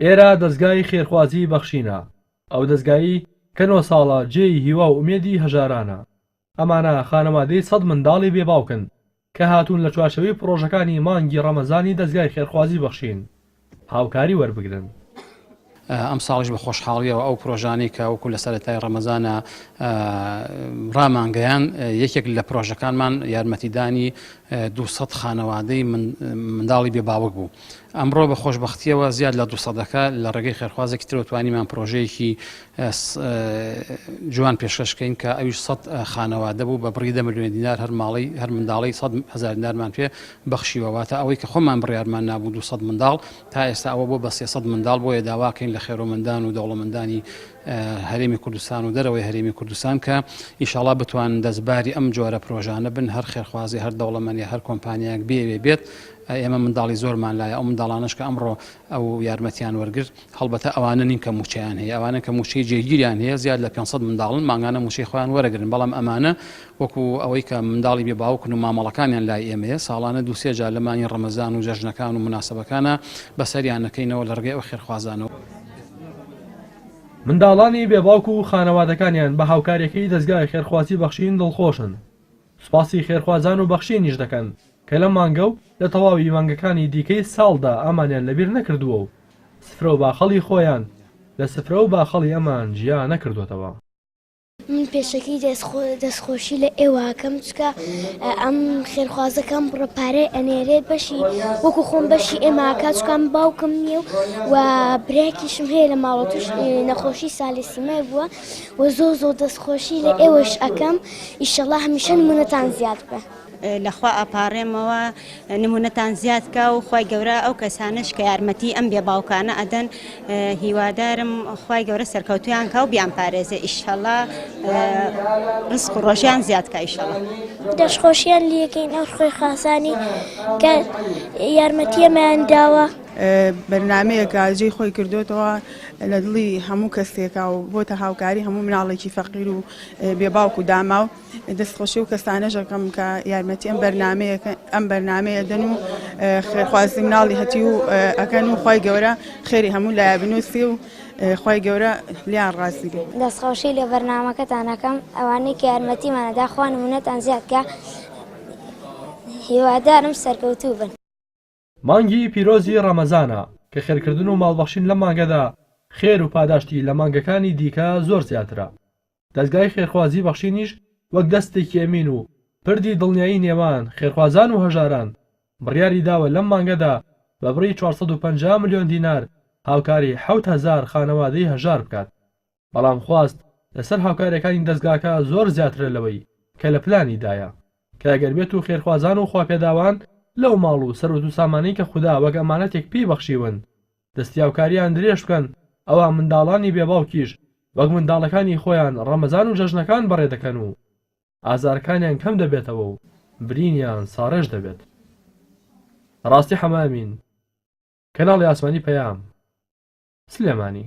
ئێرە دەزگای خێرخوازی بەخشینە، ئەو دەزگایەی کە نۆ ساڵە جێی هیوا و ئومێدی هەژارانە. ئەمانە خانەوادەی سەد منداڵی بێ باوکن کە هاتوون لە چوارچێوەی پڕۆژەکانی مانگی ڕەمەزانی دەزگای خێرخوازی بەخشین هاوکاری وەربگرن. ئەمساڵیش بە خۆشحاڵییەوە ئەو پڕۆژانەی کە وەکو لە سەرەتای ڕەمەزانە ڕامانگەیان، یەکێک لە پڕۆژەکانمان یارمەتیدانی دوو سەد خانەوادەی منداڵی بێ باوک بوو. ئەمڕۆ بە خۆشبەختییەوە زیاد لە دوو سەدەکە لە ڕێگەی خێرخوازێکی ترەوە توانیمان پرۆژەیەکی جوان پێشکەشکەین کە ئەویش سەد خانەوادە بوو بە بڕی دە ملیۆن دینار هەر ماڵی هەر منداڵی سەد هزار دینارمان پێ بەخشیوەواتە ئەوەی کە خۆمان بڕیارمان نابوو دو سەد منداڵ تا ئێستا ئەوە بۆ بە سێسەد منداڵ بۆیە داواکەین لە خێرۆمەندان و دەوڵەمەندانی هەرێمی کوردستان و دەرەوەی هەرێمی کوردستان کە ئیشاڵا بتوان دەستباری ئەم جۆرە پرۆژانە بن هەر خێرخوازی هەر دەوڵەمەنی هەر کۆمپانیایەک بێوێ بێت ئێمە منداڵی زۆرمان لایە، ئەو منداڵانەش کە ئەمڕۆ ئەو یارمەتییان وەرگرت، هەڵبەتە ئەوانە نین کە مووچەیان هەیە، ئەوانەن کە مووچەی جێگیریان هەیە، زیاد لە پێنج سەد منداڵن مانگانە مووچەی خۆیان وەرەگرن، بەڵام ئەمانە وەکو ئەوەی کە منداڵی بێ باوکن و مامەڵەکانیان لای ئێمەیە، ساڵانە دوو سێ جار لە مانگی ڕەمەزان و جەژنەکان و موناسەبەکانا بەسەریان ئەکەینەوە لە ڕێگەی ئەو خێرخوازانەوە. منداڵانی بێ باوک و خانەوادەکانیان بە هاوکارییەکەی دەزگای خێرخوازی بەخشین دڵخۆشن. سوپاسی خێرخوازان و بەخشینیش دەکەن کە لەم مانگە و لە تەواوی مانگەکانی دیکەی ساڵدا ئامانیان لەبیر نەکردووە و سفرە و باخەڵی خۆیان لە سفرە و باخەڵی ئەمان جیا نەکردۆتەوە. من پێشەکی دەستخۆشی لە ئێوە ئەکەم چکە ئەم خێرخوازەکەم بڕە پارەی ئەنێرێ بەشی وەکو خۆم بەشی ئێمە کاچکان باوکم نییە و و براکیشم هەیە لە ماڵەتش نەخۆشی سالیسیمای بووە وە زۆر زۆر دەست خۆشی لە ئێوەش ئەکەم ئیشەڵا هەمیشە نمونەتان زیاد بێ. لەخوا ئەپاڕێمەوە نمونەتان زیاد کا و خوای گەورە ئەو کەسانەش کە یارمەتی ئەم بێ باوکانە ئەدەن هیوادارم خوای گەورە سەرکەوتویان کا و بیانپارێزێ ئیشەڵا ڕسق و ڕۆژیان زیاد کا ئیشەڵا. دەستخۆشیان لێکەین ئەو خوێ خاسانی کە یارمەتی ئەمەیان داوە. بەرنامەیەکە جێی خۆی کردۆتەوە. لە دڵی هەموو کەسێکە و بۆتە هاوکاری هەموو مناڵێکی فەقیر و بێ باوک و داماو دەست خۆشی و کەسانە ژەکەم کە یارمەتی ئەم بەرنمەیە ئەم بەرنمەیە دەن و خێرخوازی مناڵی هەتی و ئەکەن و خی گەورە خێری هەموو لای بنووسی و خی گەورە لیان ڕاستی بێ دەستخۆشی لە بەرنمەکەتانەکەم ئەوانەی کە یارمەتیمانەدا خوان منەتان زیادکە هیوادارم سەرکەوتوو بن. مانگی پیرۆزی ڕەمەزانە کە خێرکردن و ماڵبەخشین لەم مانگەدا خێر و پاداشتی لە مانگەکانی دیکە زۆر زیاترە. دەزگای خێرخوازی بەخشینیش وەک دەستێکی ئەمین و پردی دڵنیایی نێوان خێرخوازان و هەژاران بڕیاری داوە لەم مانگەدا بە بڕی چوار سەد و پەنجا ملیۆن دینار هاوکاری حەوت هەزار خانەوادەی هەژار بکات. بەڵام خواست لەسەر هاوکارەکانی دەزگاکە زۆر زیاترە لەوەی کە لە پلانی دایە، کە ئەگەر بێت و خێرخوازان و خواپێداوان لەو ماڵ و سەروەت و سامانەی کە خودا وەک ئەمانەتێک پێی بەخشیون دەستیاوکاریان درێژ بکەن ئەوا منداڵانی بێ باوکیش وەک منداڵەکانی خۆیان ڕەمەزان و جەژنەکان بەڕێ دەکەن و ئازارەکانیان کەم دەبێتەوە و برینیان ساڕێژ دەبێت. ڕاستی حەمە ئەمین، کەناڵی ئاسمانی پەیام، سلێمانی.